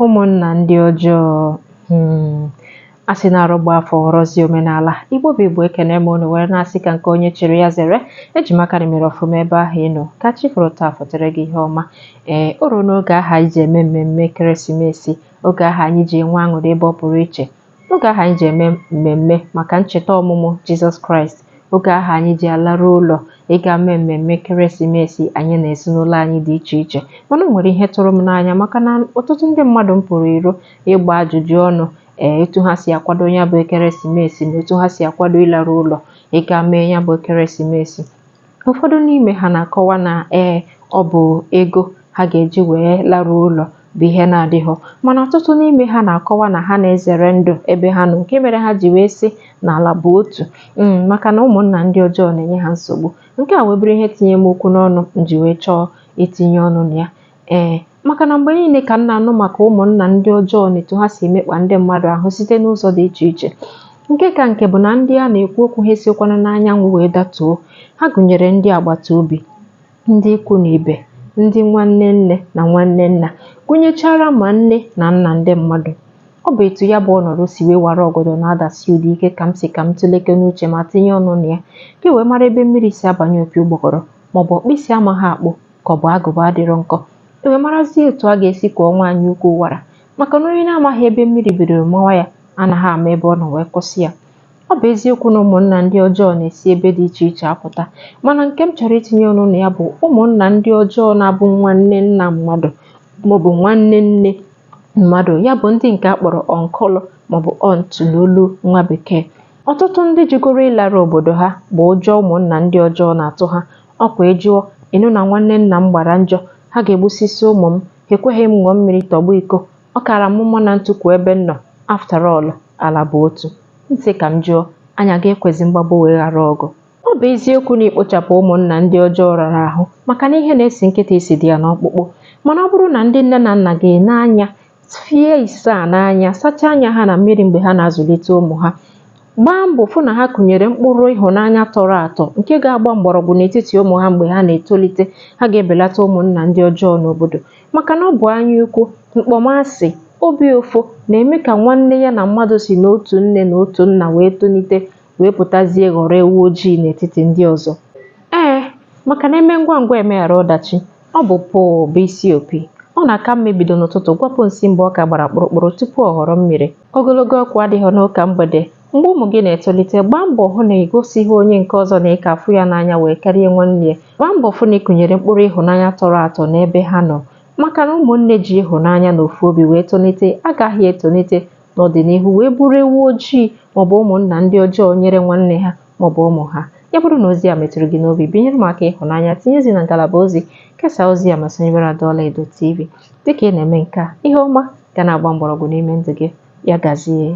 ụmụnna ndị ọjọọ hmm. a sị na arụ gbaa afọ ghọrọzi omenala igbo bụ igbo ekene m unu were na-asị ka nke onye chịrị ya zere eji m aka na i mere ọfụma ebe ahụ ị nọ ka chi foro taa fotere gị ihe ọma ee o ruo n'oge aha anyị ji eme mmemme ekeresimesi oge aha anyị ji enwe aṅụrị ebe ọ pụrụ iche Oge ahụ anyị ji eme mmemme maka ncheta ọmụmụ Jizọs Kraịst, oge ahụ anyị ji alarụ ụlọ ịga mee mmemme ekeresimesi anyị na ezinụlọ anyị dị iche iche. Mana o nwere ihe tụrụ m n'anya maka na ọtụtụ ndị mmadụ m pụrụ iro ịgba ajụjụ ọnụ ee etu ha si akwado ya bụ ekeresimesi na etu ha si akwado ịlarụ ụlọ ịga mee ya bụ ekeresimesi. ụfọdụ n'ime ha na-akọwa na ee ọ bụ ego ha ga-eji wee larụ ụlọ bụ ihe na-adịghọ mana ọtụtụ n'ime ha na-akọwa na ha na-ezere ndụ ebe ha nọ nke mere ha ji wee sị na ala bụ otu mm, maka na ụmụnna ndị ọjọọ na-enye ha nsogbu nke a wee bụrụ ihe tinye m okwu n'ọnụ m ji wee chọọ itinye ọnụ na ya Ee, maka na mgbe niile ka m na-anụ maka ụmụnna ndị ọjọọ na etu ha si emekpa ndị mmadụ ahụ site n'ụzọ dị iche iche. Nke ka nke bụ na ndị a na-ekwu okwu ha esiokwanụ n'anyanwụ wee datuo. Ha gụnyere ndị agbata obi, ndị ikwu na ibe, ndị nwanne nne na nwanne nna, gụnyechara ma nne na nna ndị mmadụ. Ọ bụ etu ya bụ ọnọdụ si wee wara ọgọdọ na-adasi ụda ike ka m sị ka m tụleke n'uche ma tinye ọnụ na ya, ka e wee mara ebe mmiri si abanye opi ụgbọgọrọ ma ọ bụ ọkpụ isi amaghị akpụ ka ọ bụ agụba adịrọ nkọ e wee marazie etu a ga-esi kwọọ nwaanyị ukwu wara maka na onye na-amaghị ebe mmiri bidoro mawa ya anaghị ama ebe ọ nọ wee kwụsị ya ọ bụ eziokwu na ụmụnna ndị ọjọọ na-esi ebe dị iche iche apụta mana nke m chọrọ itinye ọnụ na ya bụ ụmụnna ndị ọjọọ na-abụ nwanne nna mmadụ maọbụ nwanne nne mmadụ ya bụ ndị nke a kpọrọ uncle maọbụ aunt n'olu nwa bekee ọtụtụ ndị jụgoro ịlara obodo ha bụ ụjọ ụmụnna ndị ọjọọ na-atụ ha Ọ kwa ị jụọ, ị nụ na nwanne nna m gbara njọ, ha ga-egbusisi ụmụ m, ha ekweghị m ṅụọ mmiri tọgbọ iko, ọ kaara m mma na m tukwu ebe m nọ, after all, ala bụ otu. M sị ka m jụọ, anyị aga-ekwezi mgbagbu wee ghara ọgụ? Ọ bụ eziokwu na ikpochapụ ụmụnna ndị ọjọọ rara ahụ maka na ihe na-esi nkịta isi dị ya n'ọkpụkpụ, mana ọ bụrụ na ndị nne na nna ga-ene anya fie isaa n'anya sachaa anya ha na mmiri mgbe ha na-azụlite ụmụ ha gbaa mbọ fụ na ha kụnyere mkpụrụ ịhụnanya tọrọ atọ nke ga-agba mgbọrọgwụ n'etiti ụmụ ha mgbe ha na-etolite ha ga-ebelata ụmụnna ndị ọjọọ n'obodo maka na ọ bụ anya ukwu mkpọmasị obi ụfụ na-eme ka nwanne ya na mmadụ si n'otu nne na otu nna wee tolite wee pụtazie ghọrọ ewu ojii n'etiti ndị ọzọ. Ee, maka na eme ngwa ngwa emeghara ọdachi, ọ bụ pụụ bụ isi opi. Ọ na-aka mma ebido n'ụtụtụ gwapụ nsị mgbe ọ ka gbara kpụrụkpụrụ tupu ọ ghọrọ mmiri. Ogologo okwu adịghị n'ụka mgbede. Mgbe ụmụ gị na-etolite, gbaa mbọ hụ na ị gosighị onye nke ọzọ na ị ka afụ ya n'anya wee karịa nwanne ya. Gbaa mbọ fụ na ị kụnyere mkpụrụ ịhụnanya tọrọ atọ n'ebe ha nọ. Maka na ụmụnne ji ịhụnanya na ofu obi wee tonite agaghị etonite n'ọdịnihu wee bụrụ ewu ojii maọbụ ụmụnna ndị ọjọọ nyere nwanne ha maọbụ ụmụ ha ya bụrụ na ozi a metụrụ gị n'obi binyere m aka ịhụnanya tinyezi na ngalaba ozi kesaa ozi a ma sonyebere Ada Ọlaedo TV dịka ị na-eme nke a ihe ọma ga na-agba mgbọrọgwụ n'ime ndụ gị ya gazie